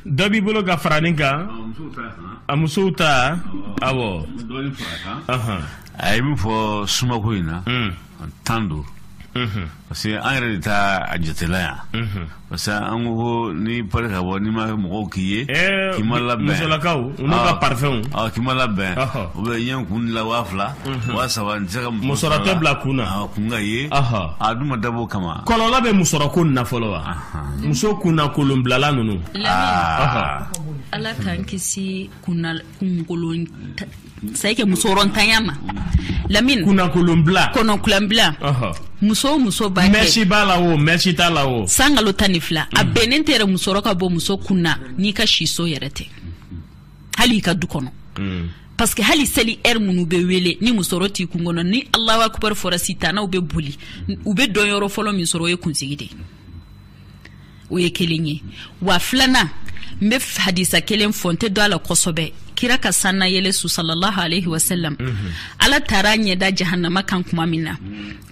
dɔ b'i bolo ka fara nin kan a musow ta awɔ a ye min fɔ sumako in na tan don parce que an yɛrɛ de taa a jatela yan parce que an ko ko n'i pari ka bɔ n'i ma kɛ mɔgɔw k'i ye eh, k'i ma labɛn musolakaw n'u ka ah. parfumw ah, k'i ma labɛn u bɛ ɲɛ kun la waa fila mhm. waa saba n tɛ se ka musɔrɔ tɛ bila kun na ah, kun ka ye a dun ma dabɔ o kama kɔlɔlɔ bɛ musɔrɔ ko nin na fɔlɔ wa muso kunnakolonbilala ninnu ala k'an kisi kunkolon c'est-à-dire que musɔrɔntanya ma amiina kunnakolonbila kɔnɔkulanbila muso o muso b'a kɛ mɛsi b'a la o mɛsi t'a la o san kalo tan ni fila a bɛnnen tɛ yɛrɛ musɔrɔ ka bɔ muso kun na n'i ka siso yɛrɛ tɛ hali i ka du kɔnɔ mm. parce que hali seli ɛri minnu bɛ wele ni musɔrɔ t'i kun kɔnɔ ni alahu akubar fɔra sitanaw bɛ boli u bɛ donyɔrɔ fɔlɔ min sɔrɔ o ye kunsigi de ye o ye kelen ye wa filanan n bɛ hadisa kelen fɔ n tɛ don a la kosɛbɛ kira ka sannayɛlɛ su sallallahu alaihi wasallam mhm. ala taara a ɲɛda jahannama kan kuma min na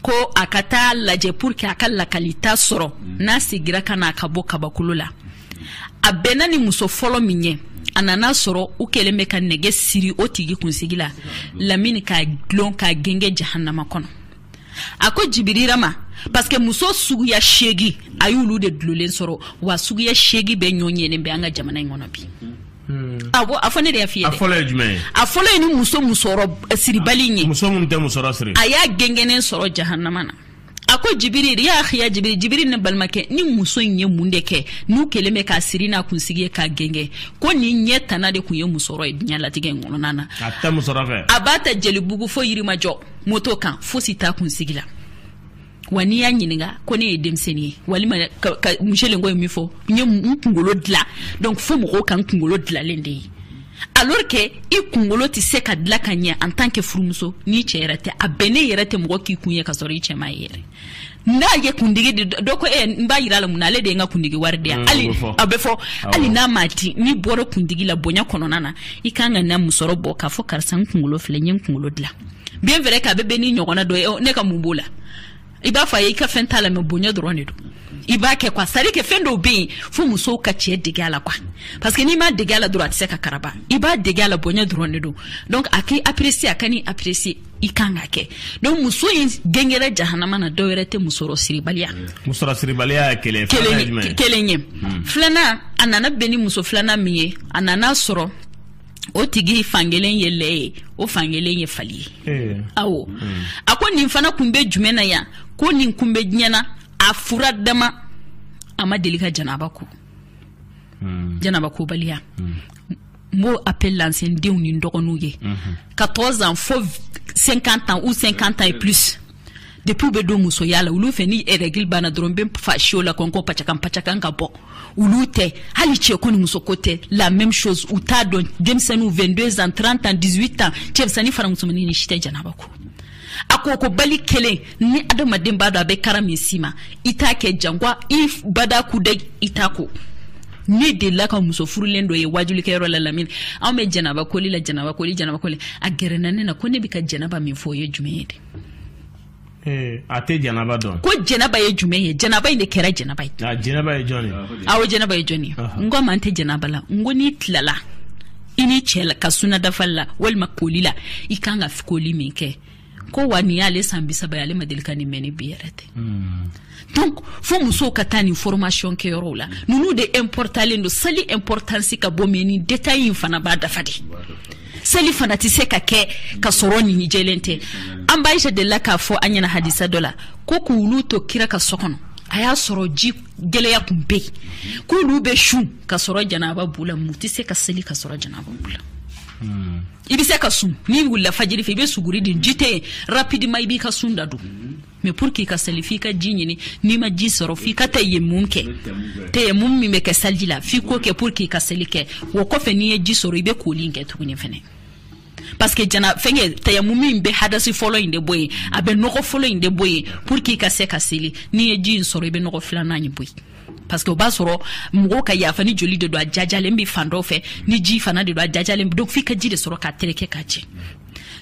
ko a ka taa lajɛ pour que a ka lakalita sɔrɔ mhm. n'a segira ka na a ka bɔ kabakolo la a bɛnna ni muso fɔlɔ min ye a nana sɔrɔ u kɛlen bɛ ka nɛgɛ siri o tigi kunsigi la lamini k'a dulon k'a genge jahannama kɔnɔ a ko jibirila ma parce que muso suguya seegi a y'olu de dulolen sɔrɔ wa suguya seegi bɛɛ ɲɔgɔnna bɛ an ka jamana in kɔnɔ bi hmm. awɔ a fɔ ne de y'a f'i ye dɛ a fɔlɔ ye jumɛn ye a fɔlɔ ye nin muso musɔrɔ eh, siribali in ye muso minnu tɛ musɔrɔ siri a y'a gɛngɛnen sɔrɔ jahanama na a ko jibiri ya akhi ya jibiri jibiri ne balimakɛ nin muso in ye mun de kɛ n'u kɛlen bɛ k'a siri n'a kunsigi ye k'a gɛngɛ ko nin ɲɛ tana de tun ye musɔrɔ ye diɲɛ latigɛ in kɔnɔna na a b'a ta jelibugu fo yirimajɔ moto kan fosi t'a kunsigi la wa n'i y'a ɲininka ko ne ye denmisɛnnin ye walima ka, ka muselenko ye min fɔ n ye n kunkolo dilan donc fo mɔgɔw ka n kunkolo dilanlen de ye alors que i kunkolo tɛ se ka dilan ka ye en tant que furumuso n'i cɛ yɛrɛ tɛ a bɛnnen yɛrɛ tɛ mɔgɔ k'i kun ye ka sɔrɔ i cɛ m'a ye yɛrɛ n'a ye kundigi di dɔ ko e n b'a yir'a la mun na ale de ye n ka kundigi wari di yan hali a bɛ fɔ hali n'a ma di n'i bɔra kundigi la bonya kɔnɔna na i kan ka na musɔrɔ bɔ k'a fɔ karisa n kunkolo filɛ n ye n kunkolo dilan bien vrai qu'a bɛ bɛn ni ɲɔgɔnna dɔ ye ne ka mun b'o la i b'a fɔ a ye i ka fɛn t'a la mais bonya dɔrɔn de don i b'a kɛ quoi c'est-à-dire que fɛn dɔw bɛ yen fo musow ka cɛ dege a la quoi parce que n'i m'a dege a la dɔrɔn a tɛ se ka karaba i b'a dege a la bonya dɔrɔn de don donc a k'i apprécier a kan'i apprécier i kan ka kɛ donc muso ye gɛngɛrɛ jahanama na dɔ wɛrɛ tɛ musɔrɔ siribaliya musɔrɔ siribaliya kelen kelen ye hmm. filanan a nana bɛn ni muso filanan min ye a nana sɔrɔ o tigi fankelen ye lɛ ye o fankelen ye fali ye eh. awo hmm. a ko nin fana kun bɛ jumɛn na yan ko nin kun bɛ diɲɛ na a fura dama a ma deli ka janaba ko mm. janaba kobaliya mm. n b'o appel lance n denw ni n dɔgɔninw ye mm-hmm. 14 ans fo 50 ans ou 50 ans et plus depuis u bɛ don musoya la olu fɛ ni règle banna dɔrɔn bɛ fa siyo la kɔnkɔ pacakan pacakan ka bɔ olu tɛ hali cɛ ko ni muso ko tɛ la même chose u t'a dɔn denmisɛnninw 22 ans 30 ans 18 ans cɛmisɛnnin fara musomannin nin si tɛ janaba ko a ko kobali kelen ni adamaden b'a dɔn a bɛ kara min s'i ma i t'a kɛ jamais i bada ku da i t'a ko ne delila ka muso furulen dɔ ye wajulikɛyɔrɔ la lamini anw bɛ janaba koli la janaba koli janaba koli a gɛrɛna ne na ko ne bɛ ka janaba min fɔ o ye jumɛn ye de eh, a tɛ janaba dɔn ko janaba ye jumɛn ye janaba in de kɛra jɛnaba ye jɛnaba ye jɔn ye awɔ jɛnaba ye jɔn ye n k'a ma n tɛ jɛnaba la n ko n'i tilala i ni cɛɛ la ka suna dafali la walima koli la i kan ka koli min kɛ ko wa nin y'ale san bisaba ye ale ma deli ka nin mɛn ni bi yɛrɛ tɛ hmm. donc fo musow ka taa nin formation kɛ yɔrɔw la ninnu de importalen don sali importance ka bon mais nin détail in fana b'a dafa de seli fana tɛ se ka kɛ ka sɔrɔ nin jɛlen tɛ an ba aisha delila k'a fɔ an ɲɛna hadisa dɔ la ko k'olu to kira ka so kɔnɔ a y'a sɔrɔ ji gɛlɛya tun bɛ yen k'olu bɛ sun ka sɔrɔ janaba b'u la mais u tɛ se ka seli ka sɔrɔ janaba b'u la hmm. i bɛ se ka sun n'i wulila fajiri fɛ i bɛ suguri dun ji tɛ yen rapidement i b'i ka sun da don mais pour que i ka seli f'i ka ji ɲini n'i ma ji sɔrɔ f'i ka tayamumu kɛ tayamumu min bɛ kɛ saliji la f'i k'o kɛ pour que i ka seli kɛ o kɔfɛ n'i ye ji sɔrɔ i bɛ koli in kɛ tuguni fɛnɛ parce que jana fɛnkɛ tayamumu in bɛ hadasi fɔlɔ in de bɔ yen a bɛ nɔgɔ fɔlɔ in de bɔ yen pour que i ka se ka seli n'i ye ji in sɔrɔ i bɛ nɔgɔ filanan in bɔ yen parce que o b'a sɔrɔ mɔgɔw ka yafa ni joli de don a jajalen bɛ fan dɔ fɛ ni ji fana de don a jajalen donc f'i ka ji de sɔrɔ k'a tereke k'a jɛ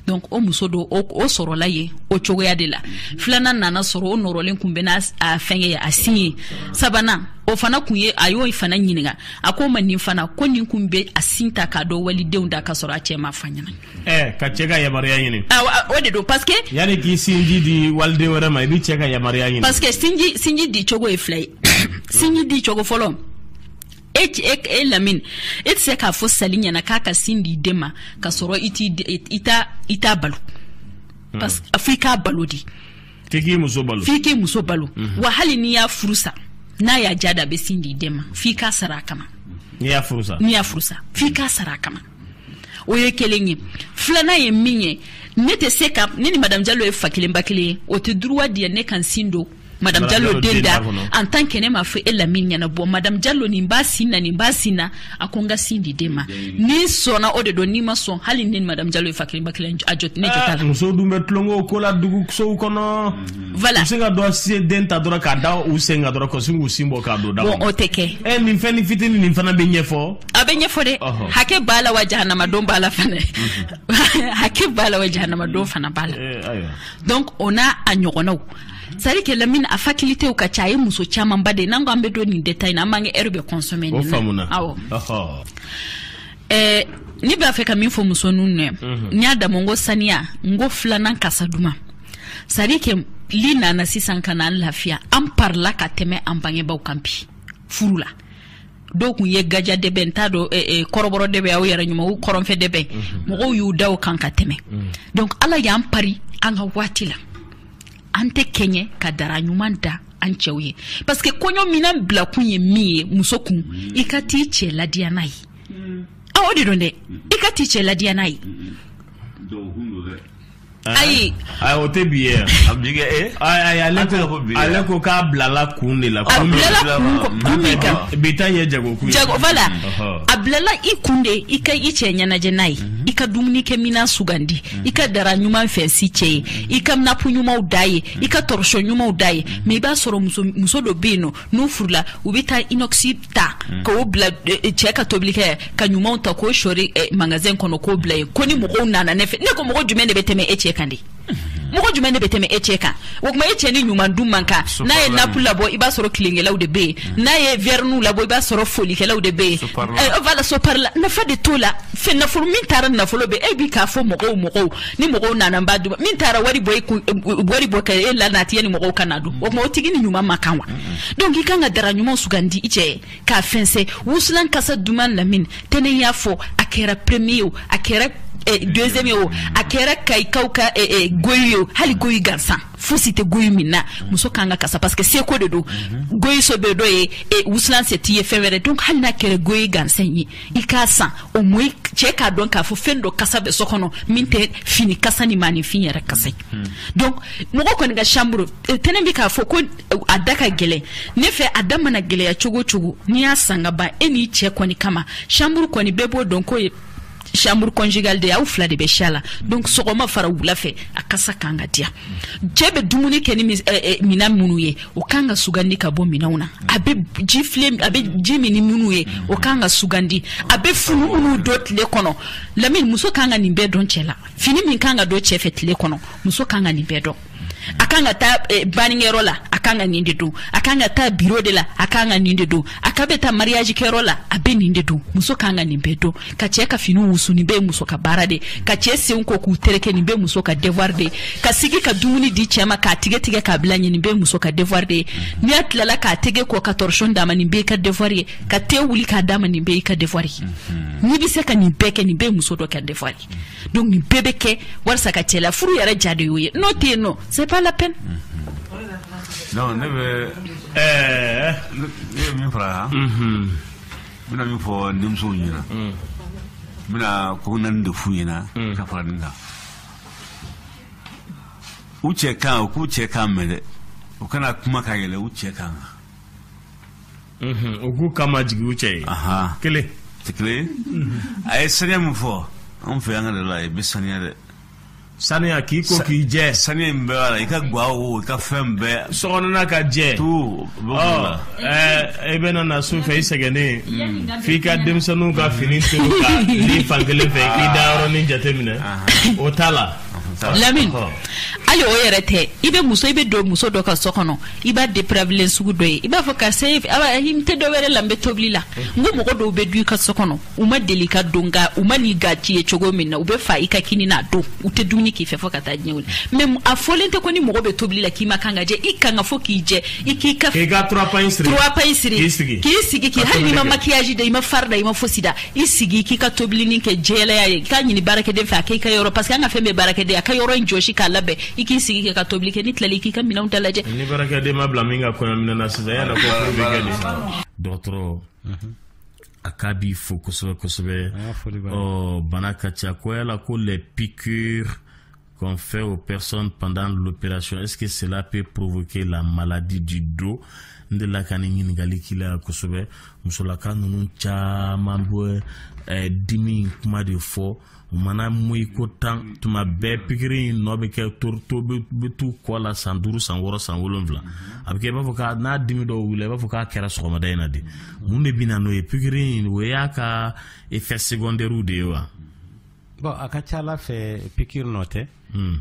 donc o muso don o, o sɔrɔla yen o cogoya de la filanan nana sɔrɔ o nɔrɔlen kun bɛ n'a fɛnkɛ ye a sin ye sabanan o fana kun ye a y'o fana ɲininka a k'a ma nin fana ko nin kun bɛ a sin ta k'a don walidenw da ka sɔrɔ a cɛ m'a f'a ɲɛna eh, k'a cɛ ka yamaruya ɲini ah, o de don parce que yani k'i sinji di waliden wɛrɛ ma i b'i cɛ ka yamaruya ɲini parce que sinji sinji di cogo ye fila ye sinji di cogo fɔlɔ e, e, e lamini e tɛ se k'a fɔ sali ɲɛna k'a ka sin di den ma ka sɔrɔ i t'a balo hmm. parce que fo i k'a balo di f'i k'i muso balo f'i k'i muso balo mhm. wa hali n'i y'a furu sa n'a y'a ja da a bɛ sin di den ma f'i k'a sara a kama n'i y'a furu sa n'i y'a furu sa f'i k'a sara a kama o ye kelen ye filanan ye min ye ne tɛ se ka ne ni madamu jalo ye fa kelen ba kelen ye o tɛ droit di ne ka n sin don madamu jalo den da en tant que ne m'a fɔ e lamini ɲɛna bɔ madamu jalo nin b'a sin na nin b'a sin na a ko n ka sin di den ma n'i sɔnna o de don n'i ma sɔn hali ne ni madame jalo ye fa kelen ba kelen a jo ne jo t'a la ah, muso dun bɛ tulonko ko la dugu sow kɔnɔ voilà u se ka dɔ se den ta dɔrɔn k'a da u sen kan dɔrɔn ka sin k'u sin bɔ k'a don da bon o tɛ kɛ ɛ eh, nin fɛn ni fitini nin fana bɛ ɲɛfɔ a bɛ ɲɛfɔ dɛ hakɛ b'a la wa jahanama don b'a la fana hakɛ b'a la wa jahanama don fana b'a la eh, donc o n'a a ɲɔgɔnnaw sari ke lamini a faculitew ka ca a ye muso camanba de n'an ko an bɛ don nin détail in na an b'an ka ɛri bɛɛ kɔnsɔmɛ nin na awɔ ɛɛ ne b'a fɛ ka min fɔ muso ninnu ye mhm. n y'a daminɛ n ko saniya n ko filanan kasa duman sari ke li nana sisan ka na an lafiya an parila ka tɛmɛ an bangebaaw kan bi furu la dɔw tun ye gaja dɛbɛn n t'a dɔn eh, eh, kɔrɔbɔrɔ dɛbɛn aw yɛrɛ ɲuman u kɔrɔnfɛ dɛbɛn mhm. mɔgɔw y'u da o kan ka tɛmɛ mhm. donc ala y'an pari an ka waati la an tɛ kɛɲɛ ka dara ɲuman da an cɛw ye parce que kɔɲɔ minan bilakun ye min ye muso kun i ka t'i cɛ ladiya n'a ye mm. ah, o de don dɛ i ka t'i cɛ ladiya n'a ye ayi ayi o tɛ bi ye a bi kɛ e ayi ale tɛ ko bi ale ko k'a bilala kun de la kun bilala kun kun min kan bi ta ye jago kun ye jago voilà a bilala i kun de i ka i cɛ ɲɛnajɛ n'a ye i ka dumuni kɛ minan sugandi i ka dara ɲuman fɛnsi cɛ ye i ka napu ɲumanw da ye i ka tɔrɔsɔn ɲumanw da ye mɛ i b'a sɔrɔ muso dɔ bɛ yen nɔ n'u furula u bɛ taa inɔkisi ta mm. k'o bila eh, eh, cɛ ka tobilikɛ ka ɲumanw ta k'o sɔri eh, magazɛn kɔnɔ k'o bila yen ko ni mɔgɔw nana ne fɛ ne ko mɔgɔ jumɛn de bɛ tɛmɛ e cɛ kan de mm-hmm. mɔgɔ jumɛn de bɛ tɛmɛ e cɛ kan o kuma e cɛ ni ɲuman dun man kan n'a ye napu labɔ i b'a sɔrɔ tulonkɛlaw de bɛ yen mm. n'a ye vɛriniw labɔ i b'a sɔrɔ fɔlikɛlaw de bɛ yen eh, voilà sopari la nafa de t'o la fɛn nafolo min taara nafolo bɛ e bɛ k'a fɔ mɔgɔw mɔgɔw ni mɔgɔw nana n b'a dun min taara wari bɔ e kun wari bɔ ka e la nati ni mɔgɔw ka na dun o kuma o tigi ni ɲuman man kan wa mm, mm. donc i kan ka dara ɲuman sugandi i cɛ ye k'a fɛnsɛ wusulan kasa duman lamin tɛnɛn y'a fɔ a kɛra premier o a kɛra eh, deuxième o a kɛra kayikaw ka eh, eh, goyi o hali goyi gansan fosi tɛ goyi min na muso kan ka kasa parce que seko de don goyi se bɛ dɔ ye eh, wusulan se t'i ye fɛn wɛrɛ donc hali n'a kɛra goyi gansan ye i k'a san o mo cɛ k'a dɔn k'a fɔ fɛn dɔ kasa bɛ so kɔnɔ min tɛ fini kasa ni maaninfin yɛrɛ kasa ye hmm. donc mɔgɔ kɔni ka chambre eh, tɛnɛ bɛ k'a fɔ ko eh, a da ka gɛlɛn ne fɛ a da mana gɛlɛya cogo o cogo n'i y'a san ka ban e n'i cɛ kɔni kama chambre kɔni bɛɛ b'o dɔn k'o ye chambre conjugale de aw fila de bɛ si a la donc sɔgɔma fara wula fɛ a kasa kan ka diya cɛ bɛ dumuni kɛ ni eh, minan minnu ye o kan ka sugandi ka bɔ minɛnw na a bɛ ji file a bɛ ji min ni minnu ye o kan ka sugandi a bɛ fini minnu don tile kɔnɔ lamini muso kan ka nin bɛɛ dɔn cɛ la fini min kan ka don cɛ fɛ tile kɔnɔ muso kan ka nin bɛɛ dɔn a kan ka taa eh, bannikɛyɔrɔ la a kan ka nin de don a kan ka taa biro de la a kan ka nin de don a ka bɛ taa mariage kɛyɔrɔ la a bɛ nin de don muso kan ka nin bɛɛ dɔn ka cɛ ka fini wusu nin bɛɛ muso ka baara de ka cɛ senw ko k'u tereke nin bɛɛ muso ka devoir de ka sigi ka dumuni di cɛ ma k'a tigɛ tigɛ k'a bila a ɲɛ nin bɛɛ muso ka devoir de n'a tilala k'a tɛgɛ ko ka torchon d'a ma nin bɛɛ ka devoir ye ka te wuli k'a d'a ma nin bɛɛ i ka devoir ye mhm. n'i bɛ se ka nin bɛɛ kɛ nin bɛɛ muso de ka devoir ye donc nin bɛɛ bɛ kɛ walisa ka cɛ la furu yɛrɛ ja de y'o ye n'o tɛ yen nɔ c'est pas la peine mhm. non ne bɛ min fara yan n bɛna min fɔ denmusow ɲɛna n bɛna ko naani de f'u ɲɛna ka fara nin kan u cɛ kan u k'u cɛ kan mɛn dɛ u kana kuma ka yɛlɛn u cɛ kan kan u k'u kan majigin u cɛ ye kelen tɛ kelen a ye sɛgɛn min fɔ anw fɛ yan ka de la i bɛ saniya dɛ saniya k'i ko k'i jɛ saniya in bɛɛ b'a la i ka gwa o i ka fɛn bɛɛ sokɔnɔna ka jɛ tu i bɛna na su fɛ i sɛgɛnnen mm. f'i ka denmisɛnninw ka fini to ka ni fan kelen fɛ i dayɔrɔnin jateminɛ o t'a la lamini hali o yɛrɛ tɛ i bɛ muso i bɛ don muso dɔ ka so kɔnɔ i b'a depravelen sugu dɔ ye i b'a fɔ karisa i tɛ dɔ wɛrɛ la n bɛ tobili la n ko mɔgɔ dɔw bɛ don i ka so kɔnɔ u ma deli ka don nka u man'i gaci ye cogo min na u bɛ fa i ka kini na don u tɛ dumuni k'i fɛ fo ka taa diɲɛ laban a fɔlen tɛ ko ni mɔgɔ bɛ tobili la k'i man kan ka jɛ i kan ka fɔ k'i jɛ i k'i ka k'i ka turapa in siri k'i sigi k'i sigi k'i hali n'i ma makiyaji da i ma fari da i ma fosi da i sigi k'i ka tobilinin kɛ jɛlenya ye k'a ɲini baarakɛden fɛ a k'i ka yɔrɔ parce que an ka fɛn bɛɛ baarakɛden a ka yɔrɔ in jɔsi k'a labɛn i k'i sigi k'i ka tobili kɛ n'i tilala k'i ka minɛnw dalajɛ ni baarakɛden ma bila min ka kɔɲɔminɛn na sisan yala ko furu bɛ kɛ de dɔgɔtɔrɔ a k'a b'i fo kosɛbɛ kosɛbɛ ɔ bana ka ca ko yala ko les piqûres qu'on fait aux personnes pendant l'opération est-ce que cela peut provoquer la maladie du dos n delila ka nin ɲininkali k'i la yan kosɛbɛ musolaka ninnu caman bɛ eh, dimi kuma de fɔ mana moyi ko tan tuma bɛɛ pikiri in nɔ bɛ kɛ to bɛ t'u kɔ la san duuru san wɔɔrɔ san wolonfila a bɛ kɛ i b'a fɔ k'a n'a dimi dɔw wuli i b'a fɔ k'a kɛra sɔgɔmada in na de mun de bɛ na n'o ye pikiri in o y'a ka effet secondairew de ye wa. bɔn a ka ca a la fɛ pikiri nɔ tɛ. Hmm.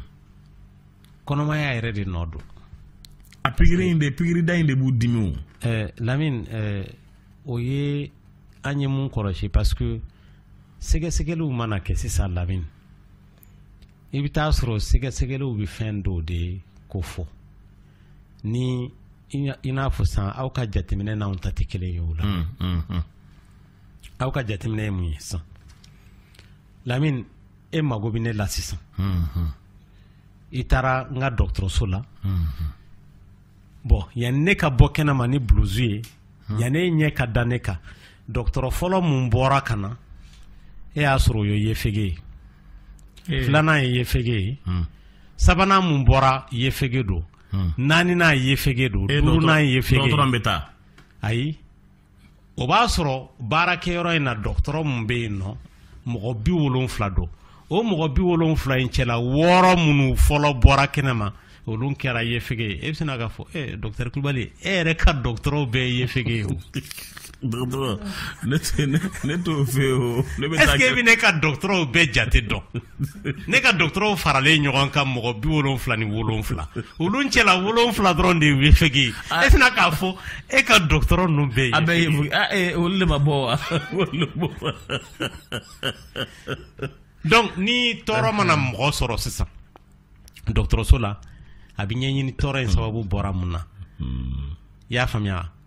kɔnɔmaya yɛrɛ de nɔ don. a pikiri in de pikiri da in de b'u dimi o. ɛɛ lamini ɛɛ o ye. an ye mun kɔlɔsi parce que sɛgɛsɛgɛliw mana kɛ sisan lamini i bɛ t'a sɔrɔ sɛgɛsɛgɛliw bɛ fɛn dɔ de kofɔ ni i n'a fɔ san aw ka jateminɛ n'anw ta tɛ kelen ye o la mm, mm, mm. aw ka jateminɛ ye mun ye sisan lamini e mago bɛ ne la sisan i taara n ka dɔgɔtɔrɔso la bɔn yanni ne ka bɔ kɛnɛma ni buluzu ye hmm. yanni e ɲɛ ka da ne kan dɔgɔtɔrɔ fɔlɔ mun bɔra ka na e y'a sɔrɔ o ye yefege ye eh. filanan ye yefege ye hmm. sabanan mun bɔra yefege don hmm. naaninan yefege don eh, duurunan yefege dɔgɔtɔrɔ bɛ taa ayi o b'a sɔrɔ baarakɛyɔrɔ in na dɔgɔtɔrɔ min bɛ yen nɔ mɔgɔ bi wolonfila don o mɔgɔ bi wolonfila in cɛla wɔɔrɔ minnu fɔlɔ bɔra kɛnɛ ma olu kɛra yefege ye e bɛ sina k'a fɔ e eh, dɔgɔtɔrɔ kulubali e yɛrɛ ka dɔgɔtɔrɔw bɛɛ ye yefege ye o dɔgɔtɔrɔ ne t'o fɛ o ne bɛ taa kɛ est-ce que e bɛ ne ka dɔgɔtɔrɔw bɛɛ jate dɔn ne ka dɔgɔtɔrɔw faralen ɲɔgɔn kan mɔgɔ bi wolonfila ni wolonfila olu cɛla wolonfila dɔrɔn de yefege e sina k'a fɔ e ka dɔgɔtɔrɔ ninnu bɛɛ ye a bɛɛ ye olu de ma bɔ wa donc ni tɔɔrɔ mana mɔgɔ sɔrɔ sisan dɔgɔtɔrɔso la a bɛ ɲɛɲini tɔɔrɔ in sababu bɔra mun na hmm. i y'a faamuya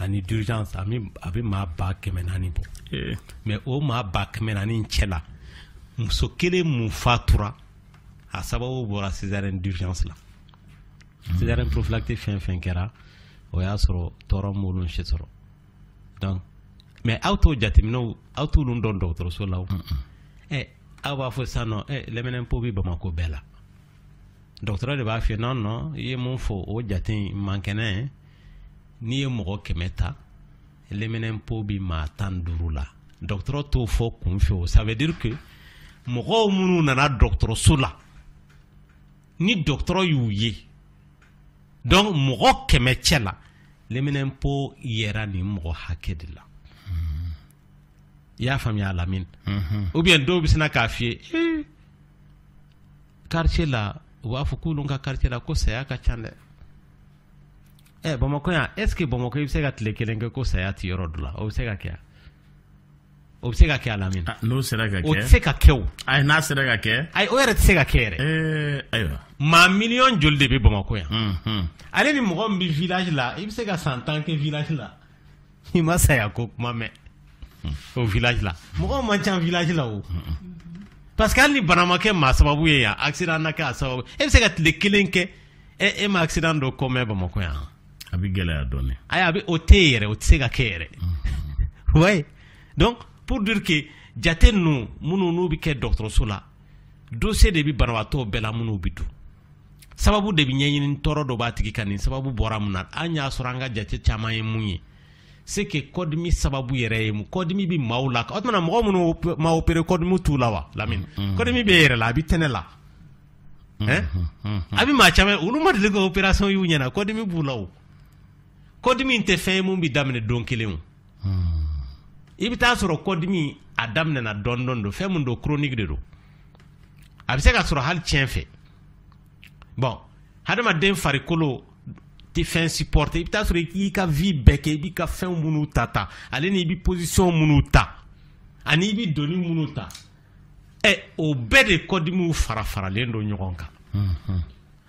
ani d'urgence a bɛ maa ba kɛmɛ naani bɔ eh. mais o maa ba kɛmɛ naani cɛ la muso kelen mun fatura a sababu bɔra césarienne d'urgence la hmm. césarienne prophylactique fɛn fɛn kɛra o y'a sɔrɔ tɔɔrɔ m'olu si sɔrɔ donc mais aw t'o jateminɛw aw t'olu dɔn dɔgɔtɔrɔso la o ɛ eh, aw b'a fɔ sisan nɔ ɛ eh, leminɛnpo bɛ bamakɔ bɛɛ la dɔgɔtɔrɔ de b'a f'i ye yan nɔ i ye mun fɔ o jate in man kɛnɛ n'i ye mɔgɔ kɛmɛ ta leminɛnpo bɛ maa tan duuru la dɔgɔtɔrɔ t'o fɔ kunfɛ o ça veut dire que mɔgɔw minnu nana dɔgɔtɔrɔso la ni dɔgɔtɔrɔ y'u ye donc mɔgɔ kɛmɛ cɛ la leminɛnpo yera nin mɔgɔ hakɛ de la i y'a faamuya lamini ou bien dɔw bɛ sina k'a f'i ye quartier la u b'a fɔ k'olu ka quartier la ko saya ka ca dɛ ɛ bamakɔ yan est ce que bamakɔ i bɛ se ka tile kelen kɛ ko saya ti yɔrɔ dɔ la o bɛ se ka kɛ o bɛ se ka kɛ a lamini ah, n'o sera ka kɛ o tɛ se ka kɛ o ayi n'a sera ka kɛ ayi o yɛrɛ tɛ se ka kɛ yɛrɛ eh, ayiwa maa miliyɔn joli de bɛ bamakɔ yan ale ni mɔgɔ min bɛ village la i bɛ se ka san tan kɛ village la i ma saya ko kuma mɛn o village la mɔgɔw man ca village la o parce que hali ni bana ma kɛ maa sababu ye yan accident na kɛ a sababu ye i bɛ se ka tile kelen kɛ e i ma accident dɔ ko mɛn bamakɔ yan a bɛ gɛlɛya dɔɔni ayi a bɛ o tɛ yen yɛrɛ o tɛ se ka kɛ yɛrɛ oui donc pour dire que jate ninnu minnu n'u bɛ kɛ dɔgɔtɔrɔso la dossier de bɛ banabaatɔ bɛɛ la minnu bɛ don sababu de bɛ ɲɛɲini tɔɔrɔ dɔ b'a tigi kan nin sababu bɔra mun na an y'a sɔrɔ an ka jate caman ye mun ye c'est que kɔdimi sababu yɛrɛ ye kɔdimi bɛ maaw la o tuma mɔgɔ minnu ma opéré kɔdimi t'u la wa lamini mm-hmm. kɔdimi bɛ yɛrɛ la a bɛ tɛnɛ la mm-hmm. Mm-hmm. a bɛ maa caman olu ma deli ka operasɔn y'u ɲɛ na kɔdimi b'u la o kɔdimi in tɛ fɛn ye mun bɛ daminɛ don kelen o i bɛ taa sɔrɔ kɔdimi a daminɛna dɔɔnin dɔɔnin don fɛn min don chronique de don a bɛ se ka sɔrɔ hali tiɲɛ fɛ bɔn hadamaden farikolo tɛ fɛn supporter i bɛ taa sɔrɔ i k'i ka vie bɛɛ kɛ i b'i ka fɛn minnu ta ta ale ni i bɛ position minnu ta ani i bɛ doni minnu ta ɛ o bɛɛ de kɔdimiw fara faralen don ɲɔgɔn kan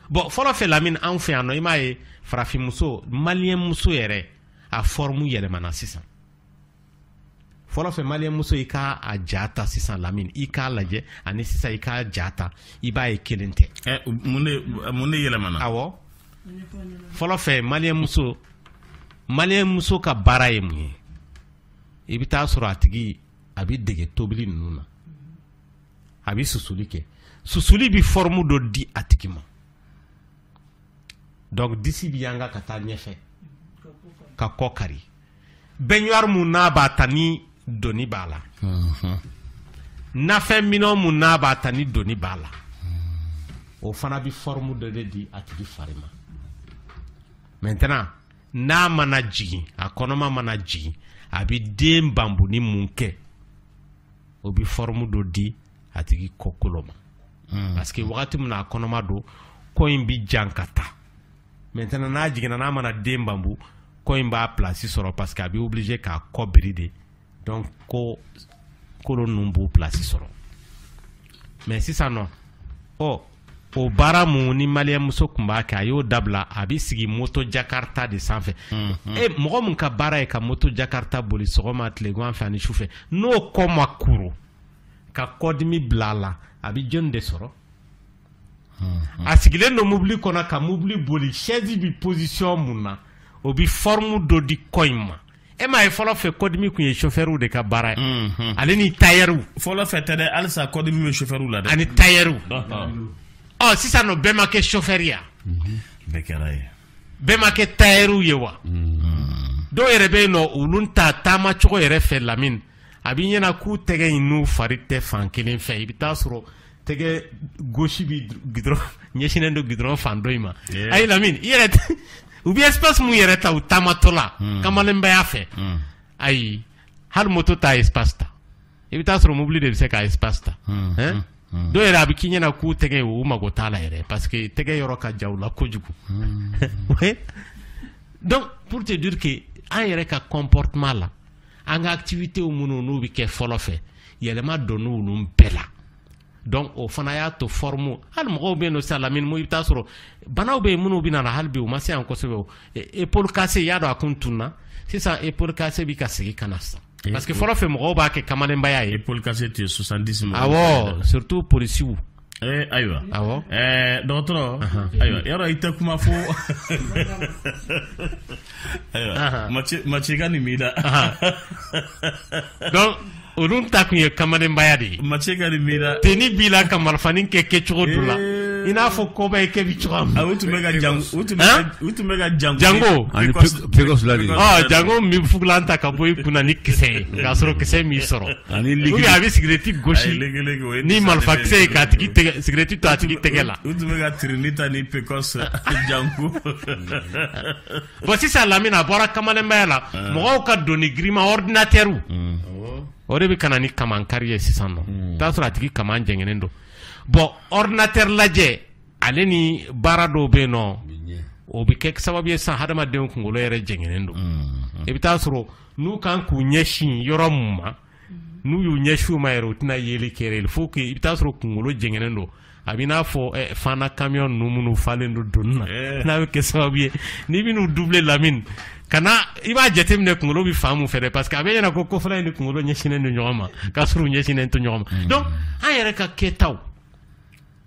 bɔn fɔlɔ fɛ lamini anw fɛ yan nɔ i m'a ye farafinmuso maliyɛnmuso yɛrɛ a fɔrɔmu yɛlɛmana sisan fɔlɔ fɛ maliyɛnmuso i k'a ja ta sisan lamini i k'a lajɛ ani sisan i k'a ja ta i b'a ye kelen tɛ eh, mun de yɛlɛmana awɔ fɔlɔ fɛ maliyɛnmuso maliyɛnmuso ka baara ye mun ye i bɛ taa sɔrɔ a tigi a bɛ dege tobili ninnu na a bɛ susuli kɛ susuli bɛ fɔrɔmu dɔ di a tigi ma donc disi bi yanga ka taa ɲɛfɛ ka kɔ kari bɛɲuwari mun n'a b'a ta ni doni b'a la mhm. nafɛn minɛn mun n'a b'a ta ni doni b'a la o fana bi fɔrɔmu dɔ de di a tigi fari ma maintenant n'a mana jigin a kɔnɔma mana jigin a bi den bambuni mun kɛ o bi fɔrɔmu dɔ di a tigi kɔ kolo ma hmm. parce que wagati min a kɔnɔma don kɔ in bɛ jan ka taa maintenant n'a jiginna n'a mana den bambu kɔ in b'a place sɔrɔ parce que a bɛ oblige k'a kɔ biri de donc kɔ kolo ninnu b'u place sɔrɔ mais sisan nɔ ɔ o baara mun ni maliyɛnmuso tun b'a kɛ a y'o dabila a bɛ sigi moto jakarta de sanfɛ mhm. e mɔgɔ min ka baara ye ka moto jakarta boli sɔgɔma tilegan fɛ ani sufɛ n'o kɔ ma kuru ka kɔdimi bila a la a bɛ jɔnni de sɔrɔ hmm. a sigilen don mobili kɔnɔ ka mobili boli sɛzi bɛ pozisiyɔn mun na o bɛ fɔrimu dɔ di kɔ in ma e m'a ye fɔlɔ fɛ kɔdimi tun ye sofɛriw de ka baara ye hmm. ale ni tayɛriw fɔlɔ fɛ tɛ dɛ halisa kɔdimi bɛ sofɛriw la dɛ ani tayɛriw ɔ sisan nɔ bɛɛ ma kɛ sofɛri ya mhm. bɛɛ kɛra ye bɛɛ ma kɛ tayɛriw ye wa hmm. dɔw yɛrɛ bɛ yen nɔ olu ta taama cogo yɛrɛ fɛ lamini a b'i ɲɛna k'u tɛgɛ in n'u fari tɛ fan kelen fɛ i bɛ taa sɔrɔ tɛgɛ gosi bi gidɔrɔn ɲɛsinnen don gidɔrɔn fan dɔ in ma a ye lamini i yɛrɛ u bɛ espace mun yɛrɛ ta u taamatɔ la hmm. kamalenbaya fɛ hmm. ayi hali moto t'a espace ta i bɛ taa sɔrɔ mobili de bɛ se k'a espace ta hmm. dɔw yɛrɛ a bɛ k'i ɲɛna k'u tɛgɛ u mago t'a la yɛrɛ parce que tɛgɛ yɔrɔ ka jan u la kojugu donc pour te dire que an yɛrɛ ka comportement la an ka activités minnu n'u bɛ kɛ fɔlɔ fɛ yɛlɛma donna olu bɛɛ la donc o fana y'a to forme hali mɔgɔw bɛ yen nɔ sisan lamini i bɛ taa sɔrɔ banaw bɛ yen minnu bɛna na hali bi u ma se yan kosɛbɛ o épaule cassée y'a dɔn a kun tunna sisan épaule cassée bɛ ka segin ka na sisan parce que fɔlɔ fɛ mɔgɔw b'a kɛ kamalenbaya ye épaule cassée tun ye 70 mɔgɔw awɔ surtout polisiw Eh, ayiwa eh, dɔgɔtɔrɔ ayiwa yɔrɔ i tɛ kuma fo macika nin b'i la donc olu ta tun ye kamalenbaya de ye macika nin b'i la teni b'i la ka marifanin kɛ kɛcogo dɔ la eh. i n'a fɔ kɔbɔyi kɛ bi cogoya min ah, u tun bɛ ka jango u tun bɛ ka jango jango ani pekɔsula de jango min fugulan ta ka bɔ i kunna ni kisɛ ye k'a sɔrɔ kisɛ m'i sɔrɔ a bɛ sigirɛti gosi ni marifakisɛ ye k'a tigi sigirɛti to a tigi tɛgɛ la u tun bɛ ka tirinita ni pekɔsi ani jango bon sisan lamini a bɔra kamalenbaya la mɔgɔw ka doni girinman ɔdinatɛriw o de bɛ ka na ni kaman kari ye sisan nɔ i bɛ t'a sɔrɔ a tigi kaman jɛngɛnen don bɔn ɔdinatɛri lajɛ ale ni baara dɔw bɛ yen nɔ o bɛ kɛ sababu ye sisan hadamadenw kunkolo yɛrɛ jɛngɛnen don i bɛ t'a sɔrɔ n'u ka kan k'u ɲɛsin yɔrɔ min ma n'u y'u ɲɛsin o ma yɛrɛ u tɛna yeli kɛ fo que i bɛ t'a sɔrɔ kunkolo jɛngɛnen don a b'i n'a fɔ eh, fana kamiyɔn ninnu minnu falen don doni na eh. n'a bɛ kɛ sababu ye n'i bɛ n'u dubile lamini ka na i b'a jateminɛ kunkolo bɛ fan mun fɛ dɛ parce que a b'i ɲɛna ko kofɔla in ni kunkolo ɲɛsinnen don ɲɔgɔn ma k'a sɔrɔ u ɲɛsinnen tɛ ɲɔgɔn ma hmm. donc an yɛrɛ ka kɛtaw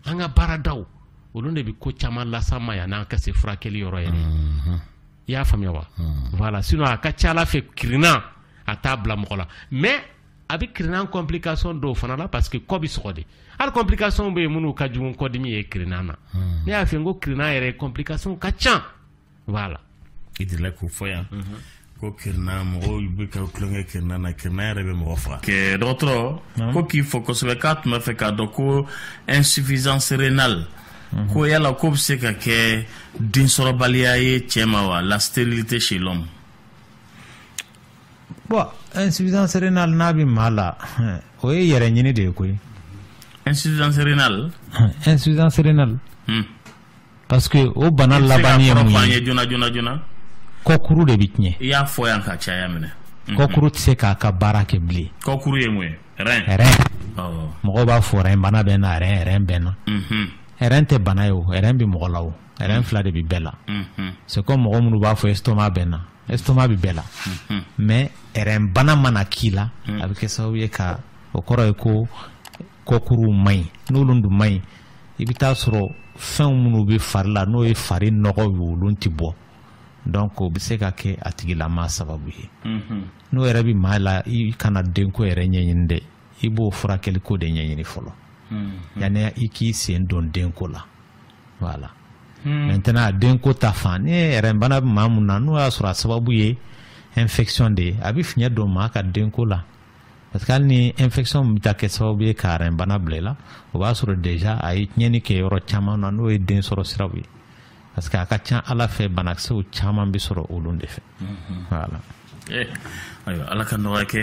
an ka baaradaw olu de bɛ ko caman las'an ma yann'an ka se furakɛli yɔrɔ yɛrɛ. i y'a faamuya wa voilà sinon a ka ca ala fɛ kirinna a t'a bila mɔgɔ la mais a bɛ kirinna complication dɔw fana la parce que kɔ bɛ sɔgɔ de hali complication bɛ yen minnu ka jugu kɔdimi ye kirinna na ne y'a fɔ n ko kirinna yɛrɛ complication ka ca voilà i delila k'o fɔ yan ko kirina mɔgɔw bɛ ka tulonkɛ kirina na kirina yɛrɛ bɛ mɔgɔ faga kɛ dɔgɔtɔrɔ ko k'i fo kosɛbɛ k'a tun b'a fɛ k'a dɔn ko insuffisance rénale ko yala k'o bɛ se ka kɛ densɔrɔbaliya ye cɛ ma wa la sterilité chez l'homme bon insuffisance rénale n'a bɛ maa la o ye yɛrɛ ɲini de ye koyi insuffisance rénale insuffisance rénale hmm. parce que o bana labanni ye mun ye joona joona joona kɔkuru de bɛ tiɲɛ i y'a fɔ yan ka caya minɛ kɔkuru tɛ se k'a ka baara kɛ bilen kɔkuru ye mun ye mɔgɔw b'a fɔ rein bana bɛ n na rein bɛ n na rein tɛ bana ye o rein bɛ mɔgɔ la o rein fila de bɛ bɛɛ la c'est comme mɔgɔ minnu b'a fɔ estomac bɛ n na estomac bɛ bɛɛ la mais rein bana mana k'i la a bɛ kɛ sababu ye ka o kɔrɔ ye ko kɔkuruw man ɲi n'olu dun man ɲi i bɛ t'a sɔrɔ fɛnw minnu bɛ fari la n'o ye fari nɔgɔw ye olu tɛ bɔ donc o bɛ se ka kɛ a tigilamaa sababu ye n'o yɛrɛ bɛ maa la i kana denko yɛrɛ ɲɛɲini dɛ i b'o furakɛliko de ɲɛɲini fɔlɔ mm-hmm. yanni i k'i sen don denko la voilà mm. maintenant denko ta fan ni rein bana bɛ maa min na n'o y'a sɔrɔ a sababu ye infection de ye a bɛ fiɲɛ don maa ka denko la parce que hali ni infection bɛ taa kɛ sababu ye ka bana bila i la o b'a sɔrɔ déjà a ye tiɲɛni kɛ yɔrɔ caman na n'o ye den sɔrɔ siraw ye parce que a ka ca ala fɛ banakisɛw caman bɛ sɔrɔ olu de fɛ mm-hmm. voilà ayiwa ala ka nɔgɔya kɛ